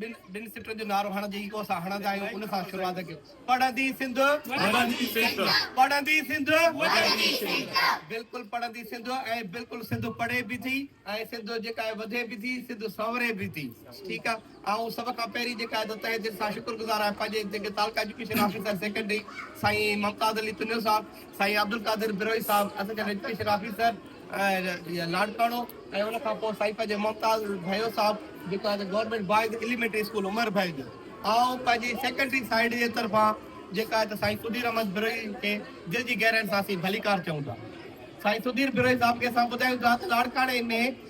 ٻن ٻن سٽن جو نعرو هڻ جي ڪو اسان هڻندا آهيون ان سان شروعات ڪيو پڙهندي سنڌ وڙهندي سنڌ پڙهندي سنڌ وڙهندي سنڌ بلڪل پڙهندي سنڌ ۽ بلڪل سنڌ پڙهي به ٿي ۽ سنڌ جيڪا وڌي به ٿي سنڌ سنوري به ٿي ٺيڪ آهي آئون سڀ کان پهرين جيڪا ته تهه دل سان شڪر گذار آهيان پنهنجي جيڪي تعلقه ايجوڪيشن آفيسر سيڪريٽري سائين ممتاز علي تنيو صاحب سائين عبدالقادر بروهي صاحب، اسان جا رشتي شرافي صاحب ۽ لاڙڪاڻو ۽ ان کان پوء سائين پنهنجي ممتاز ڀائيو صاحب جيڪو آهي ته government boys elementary school Umar ڀائي جو آئون پنهنجي سيڪريٽري سائيڊ جي طرفان جيڪا آهي ته سائين سڌير احمد بروهي کي دل جي گهرائين سان اسين ڀليڪار چئون ٿا. سائين سڌير بروهي صاحب کي اسان ٻڌايون ٿا ته لاڙڪاڻي ۾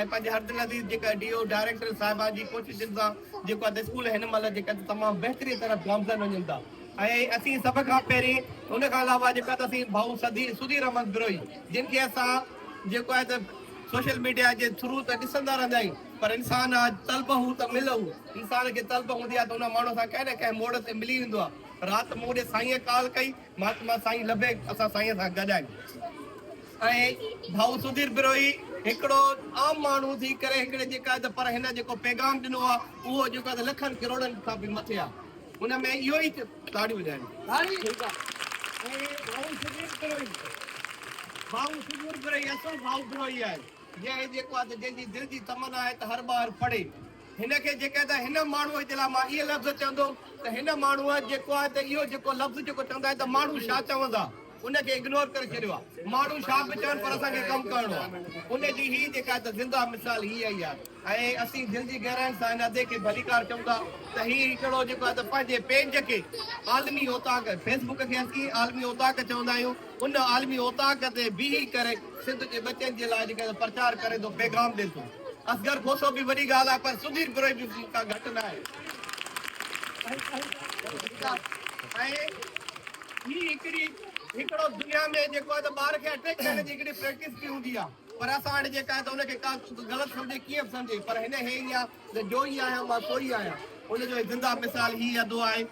۽ پنهنجي هرد لذيذ جيڪا آهي ڊي او ڊائريڪٽر صاحبه جي ڪوششن سان جيڪو آهي ته اسڪول هن مهل جيڪا آهي ته تمام بهتري طرف گامزن وڃن ٿا ۽ اسين سڀ کان پهرين ان کان علاوه جيڪا آهي ته اسين ڀائو سڌي سڌير احمد بروهي جن کي اسان جيڪو آهي ته سوشل ميڊيا جي ٿرو ته ڏسندا رهندا آهيون پر انسان آهي طلب هو ته مل هو انسان کي طلب هوندي آهي ته ان ماڻهو سان ڪنهن نه ڪنهن موڙ تي ملي ويندو آهي رات مون ڏي سائينء ڪال ڪئي مھاتما سائين لبيڪ اسان سائين سان گڏ آھن ۽ ڀائو سڌير بروھي ھڪڙو عام ماڻھو ٿي ڪري ھڪڙي جيڪا آھي ته پر ھن جيڪو پيغام ڏنو آ اھو جيڪو آھي ته لکن ڪروڙن کان به مٿي آ ان ۾ اھو ئي تاڙيون وڄائيون تاڙي ٺيڪ آ ۽ ڀائو سڌير بروھي ڀائو سڌير بروھي اصل ڀائو بروھي آھي جنھن جيڪو آھي ته جنھن جي دل جي تمنا آھي ته ھر ٻار پڙھي هن کي جيڪڏهن ته هن ماڻهوء جي لاء مان اهي لفظ چوندوم ته هن ماڻهوء جيڪو آهي ته اهو جيڪو لفظ جيڪو چوندا آهن ته ماڻهو ڇا چوندا ان کي اگنور ڪري ڇڏيو آهي ماڻهو ڇا به چون پر اسان کي ڪم ڪرڻو آهي ان جي هي جيڪا آهي ته زنده مثال هي اهي آهي ۽ اسين دل جي گهراين سان هن ادي کي ڀليڪار چئون ٿا ته هي هڪڙو جيڪو آهي ته پنهنجي پيج کي عالمي اوطاق فيسبوڪ کي اسين عالمي اوطاق چوندا آهيون ان عالمي اوطاق تي بيهي ڪري سنڌ جي ٻچن جي لاء جيڪڏهن پرچار ڪري ٿو پيغام ڏي ٿو. اصغر کوسو به وڏي ڳالهه آهي پر سڌير پروهي به مون کان گهٽ نه آهي. ٺيڪ آهي ۽ هي هڪڙي هڪڙو دنيا ۾ جيڪو آهي ته ٻار کي اٽيڪ ڪرڻ جي هڪڙي پريڪٽس به هوندي آهي پر اسان وٽ جيڪا آهي ته ان کي ڪا غلط سمجهي ڪيئن به سمجهي پر هن هي ئي آهي ته جو ئي آهيان مان سو ئي آهيان ان جو زنده مثال هي اڌو آهي.